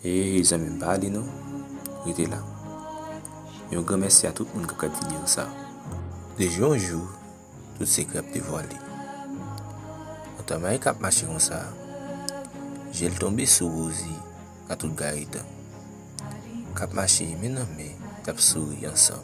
Hey zanmim pa ale non rete la yon gran mèsi a tout moun kap gad video sa de jou an jou tout sekrè ap devwale yon tamale kap mache konsa jel tonbe sou Rosie a tout gayetan kap mache men nan men yap souri ansanm.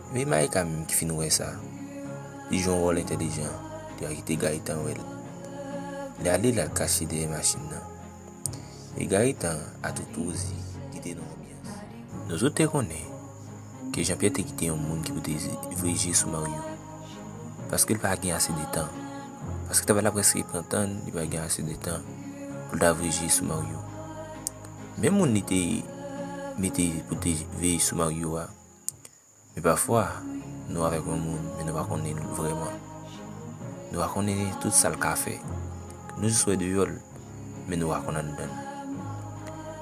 Me Maïka menm ki fin wè sa, li jwe yon wòl entèlijan, li pa kite Gaëtan wè l. Li ale l al kache dèyè machin nan. E Gaëtan a tout wouzi ki te nan anbyans. Nou tout te konnen ke Jean Pierre te kite yon moun ki pou te voye je sou Mario. Paske l pa gen ase de tan. Paske travay la prèske pran tan l, li pa gen ase de tan pou l ta voye je sou Mario. Menm moun li te mete pou te veye sou Mario a. Men pafwa, nou avèk yon moun, men nou pa konnen l vrèman. Nou pa konnen tout sa l ka fè. Nou jis wè deyò l, men nou pa konn anndan l.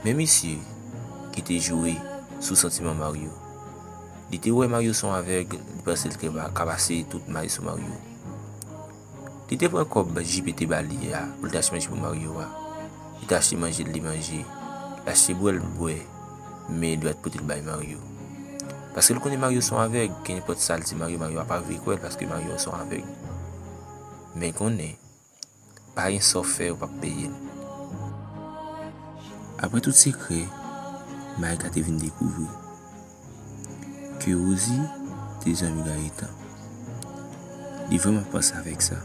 Men misye ki te jwe sou santiman Mario, li te wè Mario se yon avèg, li panse l te ka pase tout may sou Mario. Li te pran kòb JP te ba li a pou l ta achte manje pou Maryo a. Li te achte manje l li manje. Li achte bwè l bwè. Men li pa t pote l bay Maryo. Paske l konnen Maryo son avèg. Kenenpòt sa l di Maryo, Maryo a pa vle kwè l paske Maryo son avèg. Men konnen, pa gen sa w fè ou pa p peye l. Apre tout sekrè, Mayka te vin dekouvri. ke Rosie te zanmi Gaëtan. Li vreman ap panse avèk sa.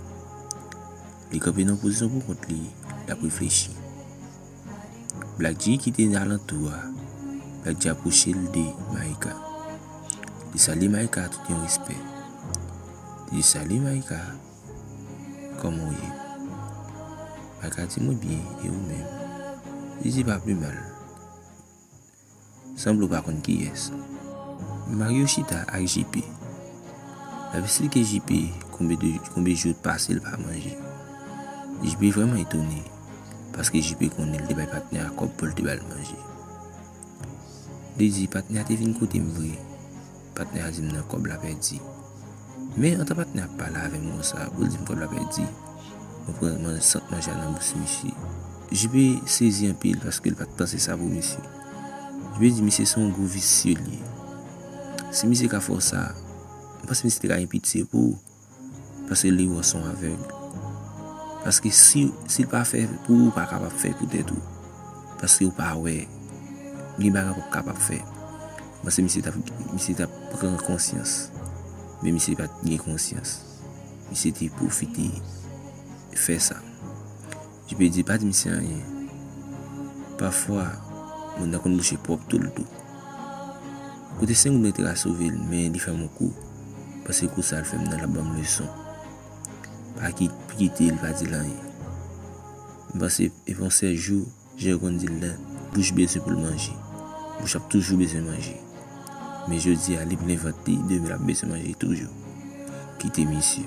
Li kanpe nan yon pozisyon pou kont li, l ap reflechi. Blackji ki te nan alantou a, Blackji apwoche l de Maïka. Li salye Maïka ak tout yon respè. Li di, Salut Maïka, kòman ou ye? Maïka di, Mwen byen, e ou menm? Li di, Pa plimal. Sanble w pa konn kiyès. Mario chita ak JP. Lap esplike JP konbe de konbe jou t pase l pa manje. JP vrèman etone paske JP konnen l te bay patnè a kòb pou l te ba l manje. Li di patnè a te vin kote m vre. Patnè a di m nan kòb la pèdi. Men, antan patnè a ap pale avè m konsa, pou l di m kòb la pèdi, mwen pran man, sant manje a nan bouch misye. JP sezi anpil paske l pa t panse sa pou misye. JP di misye se yon gwo visye l ye. Si misye ka fè w sa, m panse misye te ka gen pitye pou ou. Paske li wè w son avèg. Paske si l pa fè pou ou, ou pa kapab fè pou tèt ou. Paske ou pa wè. Gen bagay ou pa kapab fè. Paske misye tap, misye tap pran konsyans. Men misye pat gen konsyans. Misye te pwofite fè sa. Dipedye pa di misye anyen. Pafwa moun nan konn bouche pwòp tou l tou. Kote Sengoun rete ka sove l men li fè m on kou paske kou sa l fè m nan l ap ban m leson. Pa kite l pa di l anyen. M panse e pa on sèl jou jan yo konn di l lan bouch bezwen pou l manje. Bouch ap toujou bezwen manje. Men jodi a li plen vant li demen l ap bezwen manje toujou. Kite misye.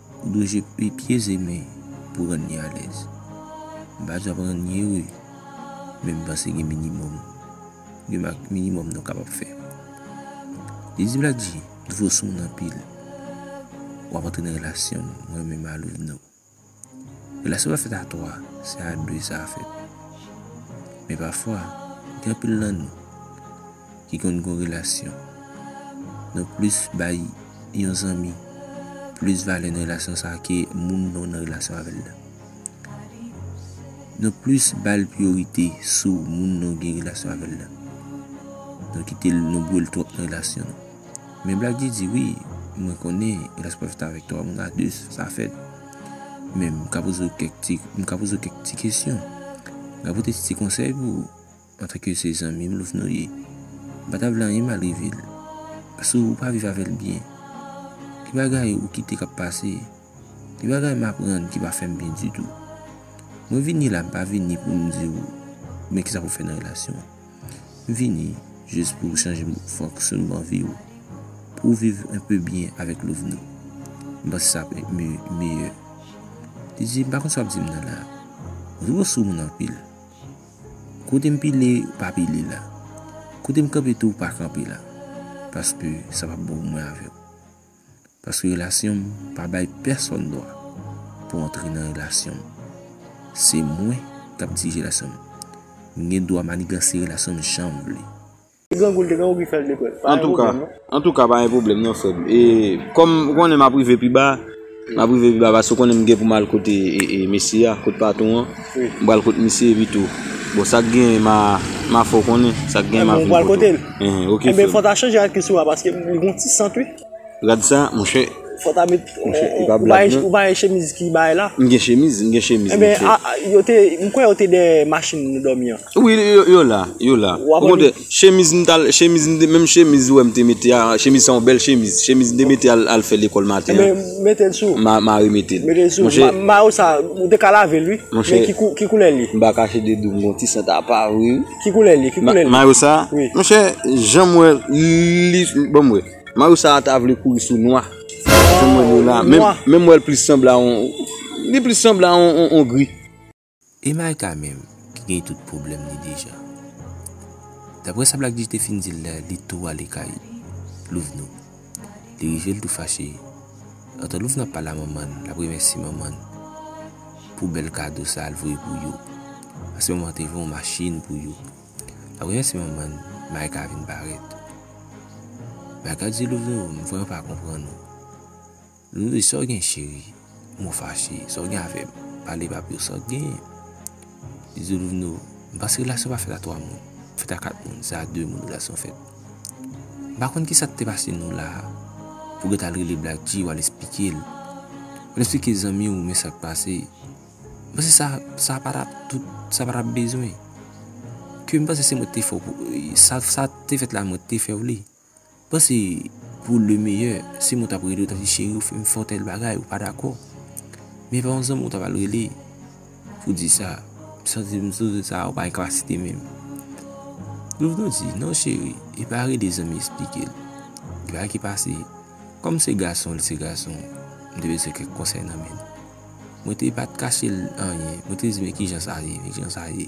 Ou dwe jwe pi pye ze men pou rann li alèz. M pa janm rann li ere men m panse gen minimòm li mak minimòm nou kapab fè. Li di Black-G, m fò sou moun anpil. W ap antre nan relasyon m, mwen menm Malouv nou. Relasyon pa fèt a 3, se a 2 sa fèt. Men pafwa, gen anpil nan nou. ki konn gon relasyon. Nou plis bay yon zanmi plis valè nan relasyon sa ke moun nou nan relasyon avè l la. Nou plis ba l priyorite sou moun nou gen relasyon avè l la. Nou kite l nou bwè l twòp nan relasyon nou. Men Black G di wi, mwen konnen relasyon pa fèt avèk 3 moun a 2 sa fèt. Men m ka poze w kèk ti kesyon. M ka pote ti konsèy pou ou. Antanke se zanmi m Louvno ye, m pa ta vle anyen mal rive l. Paske ou pa viv avè l byen. Gen bagay ou kite k ap pase. Gen bagay m aprann ki pa fè m byen ditou. Mwen vini la m pa vini pou m di w men kisa pou w fè nan relasyon an. M vini jis pou w chanje fonksyonman vi w. Pou w viv enpe byen avèk Louvno. M panse sa ap meyè. Li di, m pa konn sa w ap di m nan la a. Louvno sou moun anpil. Kote m pile ou pa pile la. Kote m kanpe tou ou pa kanpe la. Paske sa pa bon pou mwen avè w. Paske relasyon m pa bay pèsòn dwa pou antre nan relasyon m. Se mwen k ap dirije relasyon m. M gen dwa maniganse relasyon m jan m vle. Antouka Antouka pa gen pwoblèm non frèm e kòm ou konnen map rive pi ba map rive pi ba paske ou konnen m gen pou m al kote mesye a kot patron an m pral kot misye epi tou bon sa k genyen ma fè w konnen sa k genyen ma vin kote w ok frèm rad sa monchè m gen chemiz m gen chemiz monchè Wi yo la, yo la. Ou kontre, chemiz m tal, chemiz m te, menm chemiz ou wè m te mete a, chemiz sa yon bèl chemiz. Chemiz m te mete al al fè lekòl maten an. Enben, mete l sou. Ma, ma remete l. Mete l sou. Monchè. Ma, mayo sa, ou te ka lave l wi. Monchè. Men ki kou, ki koulè l ye? M pa kache de di w m gen yon ti sant apa wi. Ki koulè l ye? Ki koulè l ye? Ma, mayo sa? Wi. Monchè, jan m wè li, bon m wè. Mayo sa ta vle kouri sou nwa. Jan m wè li yo la. Nwa. Menm, menm m wè l plis sanble a yon, li plis sanble a yon, yon gri. E Micah menm ki gen tout pwoblèm li deja. Daprè sa Black-G te fin di l la, li tou ale kay Louvno. Li rive l tou fache. Antan Louvno ap pale a manman l, l ap remèsye manman l pou bèl kado sa l voye pou yo. Paske manman an te voye yon machin pou yo. L ap remèsye manman l, Micah vin parèt. Micah di Louvno, m vrèman pa konprann ou. Lolly sa w gen cheri m ou fache sa w gen avèm pale papi w sa w gen bisoudouvnou m panse relasyon pa fèt a 3 moun m fèt a 4 moun se a 2 moun relasyon fèt m pa konn kisa k te pase nou la pou w gèt al rele Black G w al esplike l w al esplike zanmi w men sak pase m panse sa sa pa ta tout sa pa ta bezwen ke m panse se mwen k te fè w pou sa sa te fèt la mwen k te fè w li. Bon se pou le meyè si mwen tap rele ou tap di cheri ou fèm fè tèl bagay ou pa dakò men epa yon zanmi ou tap al rele pou di sa m santi m sou sa ou pa gen kapasite menm nou vin di non cheri epa rele zanmi esplike l gen bagay ki pase kòm se gason li se gason m te bezwen kèk konsèy nan men l mwen te pat kache l anyen mwen te di men kijan sa ye kijan sa ye.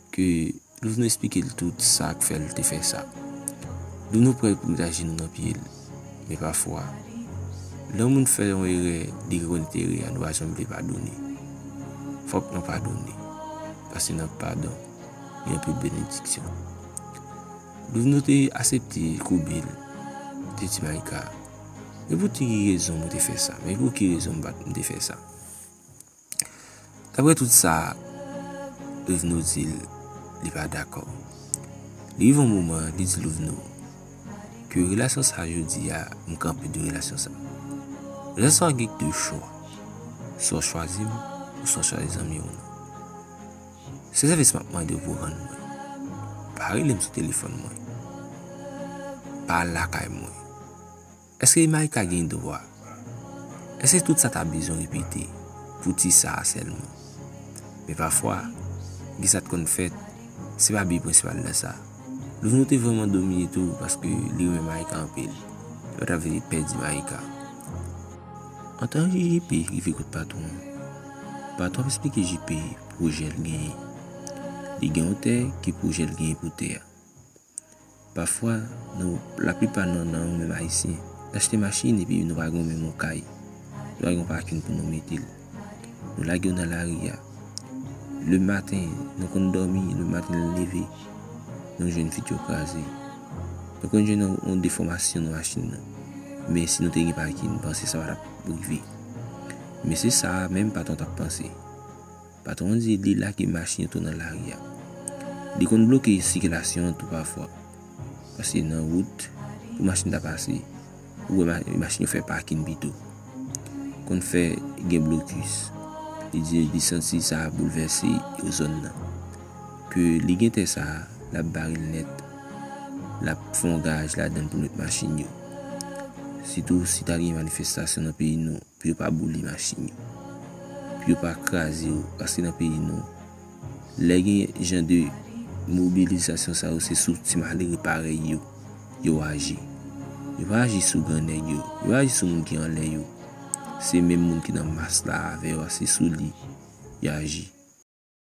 Ke nou vin esplike l tout sa k fè l te fè sa. Dou nou prè pou met ajenou nan pye l. Men pafwa, lè yon moun fè yon erè li rekonèt erè a nou pa janm vle padone. Fòk nou padone. Paske nan padon, gen anpil benediksyon. Dou nou te asepte koube l, te di Mayka, Men pou ti ki rezon mwen te fè sa, men pou ki rezon m te fè sa. Daprè tout sa Douvnou di l, li pa dakò. Li rive yon moman, li di Douvnou, ke relasyon sa jodi a, m kanpe de relasyon sa. Relasyon sa gen de chwa, swa w chwazi m, ou swa w chwazi zanmi w. Se sèvis m ap mande w pou w rann mwen. Pa rele m sou telefòn mwen. Pa lakay mwen. Eske imaj ta gen dwa? Eske tout sa ta bezwen repete pou ti sa a sèlman? Men pafwa, gen sa t konn fèt, se pa bi prensipal nan sa. Louvno te vrèman domine tou paske li renmen Maïka anpil, li pa t ap vle pèdi Maïka. Antan ke JP rive kot patwon an, patwon ap esplike JP pwojè l genyen. Li gen yon tè ke pwojè l genyen pou tè a. Pafwa, nou, laplipa nan nan nou menm Ayisyen, n achte machin epi nou pa gen menm yon kay, nou pa gen yon pakin pou nou mete l. Nou lage yo nan lari a. Le maten, nou konn dòmi, le maten nou leve, nou jwenn vit yo kraze. Nou konn jwenn yon defòmasyon nan machin nou. Men si nou te gen pakin, m panse sa pa t ap rive. Men se sa menm patwon t ap panse. Patwon an di li lage machin yo tou nan lari a. Li konn bloke sikilasyon an tou pafwa. Paske nan wout, pou machin ta pase, ou wè machin yo fè pakin pito. Konn fè gen blokis. Li di li santi sa ap boulvèse zòn nan. Ke li gen tè sa, l ap bare l nèt. L ap fè yon garaj ladan l pou l met machin yo. Sitou si ta gen manifestasyon nan peyi nou. Pou yo pa boule machin yo. Pou yo pa kraze yo. Paske nan peyi nou. Lè gen jan de mobilizasyon sa yo se sou ti malere parèy yo. Yo aji. Yo pa aji sou gran nèg yo. Yo pa aji sou moun ki anlè yo. Se menm moun ki nan mas la avè yo a se sou li. Yo aji.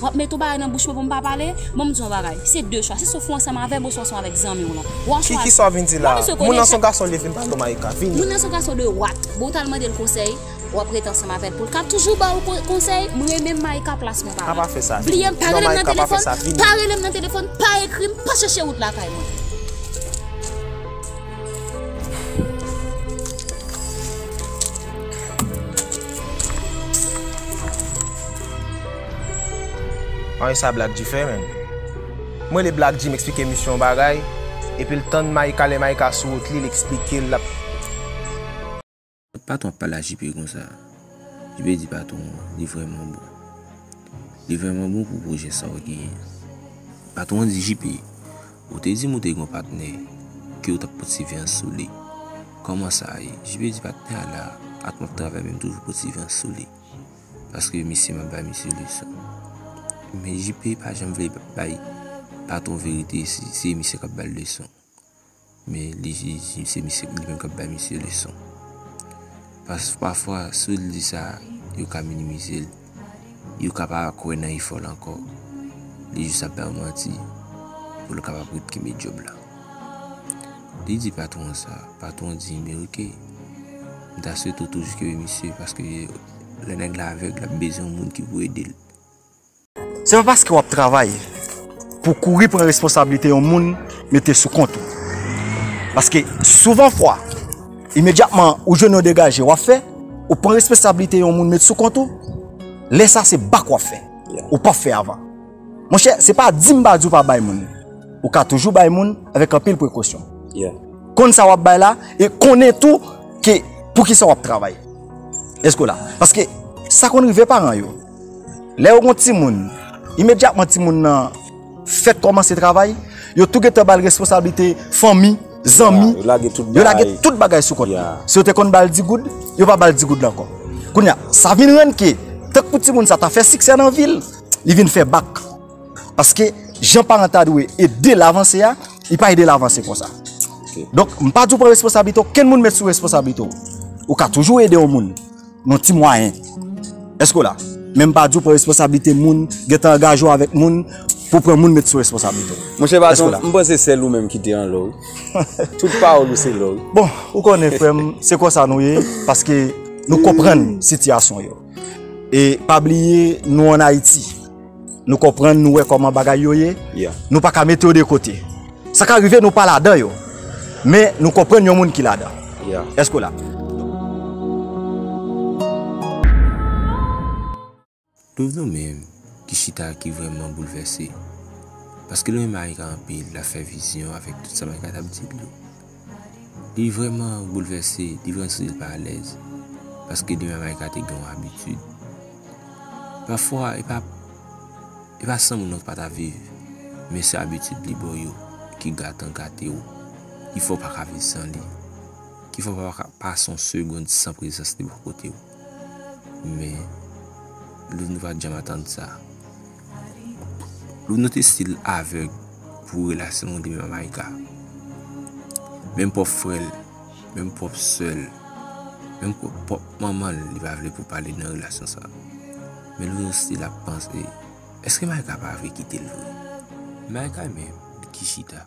W ap mete yon bagay nan bouch mwen pou m pa pale? Ban m di w yon bagay, se de chwa, se sou fon ansanm avè m oswa ansanm avèk zanmi w lan. Ou a chwazi. Kiki sa w vin di la a? Moun nan se yon gason li vin pale w Maïka. Vini. Moun nan se yon gason de wat. Bon w t al mande l konsèy, w ap rete ansanm avè l pou l ka toujou ba w konsèy? M renmen m Maïka plas mwen pa la. A pa fè sa. Vini. Bliye m, pa rele m nan telefòn, pa rele m nan telefòn, pa ekri m, pa chèche wout lakay mwen. An e sa Black G fè menm? M rele Black G m eksplike misye yon bagay epi l tann Micah lè Micah sou wout li l eksplike l l ap. Patron ap pale a JP konsa. JP di patron an li vrèman bon. Li vrèman bon pou pwojè sa w genyen an. Patron an di JP, Ou te di m ou te gen yon patnè ke ou t ap pot sivyans sou li. Kòman sa ye? JP di patnè a la ak m ap travay men m toujou pot sivyans sou li. Paske misye m ap bay misye leson. Men JP pa janm vle bay patwon verite si se misye k ap ba l leson. Men li di se misye li menm k ap bay misye leson. Paske pafwa si w di sa yo ka minimize l. yo ka pa kwè nan efò l ankò, li jis ap bay w manti pou l kapab ret kenbe djòb la. Li di patwon an sa, patwon an di, men oke, m ta swete w toujou kenbe misye paske lè nèg la avèg, l ap bezwen yon moun ki pou ede l. Se pa paske w ap travay pou w kouri pran responsablite yon moun mete sou kont ou. Paske souvan fwa. Imedyatman ou jwenn yon degaje wap fè, ou pran responsablite yon moun met sou kont ou, lè sa se bak wap fè, ou pap fè avan. Monchè, se pa di m pa di w pa bay moun, ou ka toujou bay moun avèk anpil prekosyon. Konn sa wap bay la e konnen tou ke poukisa wap travay. Èske w la? Paske sa konn rive paran yo, lè yo gon timoun, imedyatman timoun nan. Fèt kòmanse travay, yo tou gentan bal responsablite fanmi, zanmi, yo lage tout bagay sou kont li. Si yo te konn bal 10 goud, yo pa bal 10 goud la ankò. Kounye a, sa vin rann ke, tank pou timoun sa ta fè siksè nan vi l, li vin fè bak. Paske, jan paran ta dwe ede l avanse a, li pa ede l avanse konsa. Donk, m pa di w pran responsablite okenn moun met sou responsablite w. Ou ka toujou ede yon moun. Yon ti mwayen. Eske w la? Men m pa di w pran responsablite moun, gen tan angaje w avèk moun pou w pran moun met sou responsablite w. Mon chè patron, m panse se sèl ou menm ki te an lò wi. Tout pawòl ou se lò wi. Bon, ou konnen frè m, se konsa nou ye, paske nou konprann sitiyasyon yo. E pa bliye nou an Ayiti. Nou konprann, nou wè kòman bagay yo ye, nou pa ka mete yo de kote. Sa ka rive nou pa ladan yo, men nou konprann yon moun ki ladan. Èske w la? Doum nou menm ki chita a ki vrèman boulvèse. Paske l renmen Aïka anpil, l ap fè vizyon avèk tout sa m Aïka t ap di l yo. Li vrèman boulvèse, li vrèman santi l pa alèz, paske depi Mama Ika te gen yon abitid. Pafwa, e pa, e pa san moun nan ou pa ta viv, men se abitid li ba w yo ki gate an gate w, ki fè w pa ka viv san li, ki fè w pa ka pase yon segond san prezans li bò kote w. Men Loune pa t janm atann sa. Loune te stil avèg pou relasyon li menm ak Maïka. Menm pwòp frè l, menm pwòp sè l, menm pwòp manman l, li pa vle pou pale nan relasyon sa. Men Loune stil ap panse, èske Maïka pa vle kite l vre? Maïka menm, li ki chita.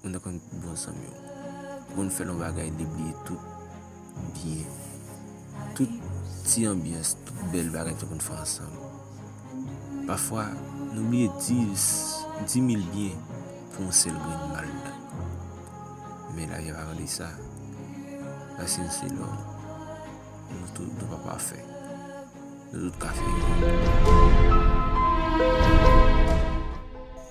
Mwen ta konn bon zanm yo. Bon fè lon bagay li bliye tout byen. Tout ti anbyans, tout bèl bagay ta konn fè ansanm. Pafwa nou bliye dis, di mil byen pou yon sèl grenn mal nan. Men la vi pa vle sa. Paske nou se lòm. Nou tout nou pa pafè. Nou tout ka fè erè.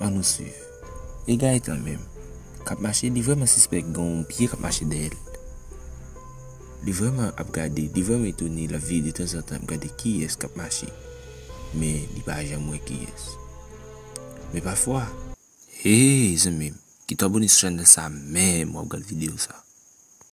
An nou swiv. E Gaëtan menm? Kap mache li vreman sispèk gen yon pye kap mache dèyèl. Li vreman ap gade, li vreman etone lap vire de tanzantan ap gade kiyès kap mache. Men li pa janm wè kiyès. Men pafwa. Hey zanmim kitou abone sou chanel sa menm wap gad video sa.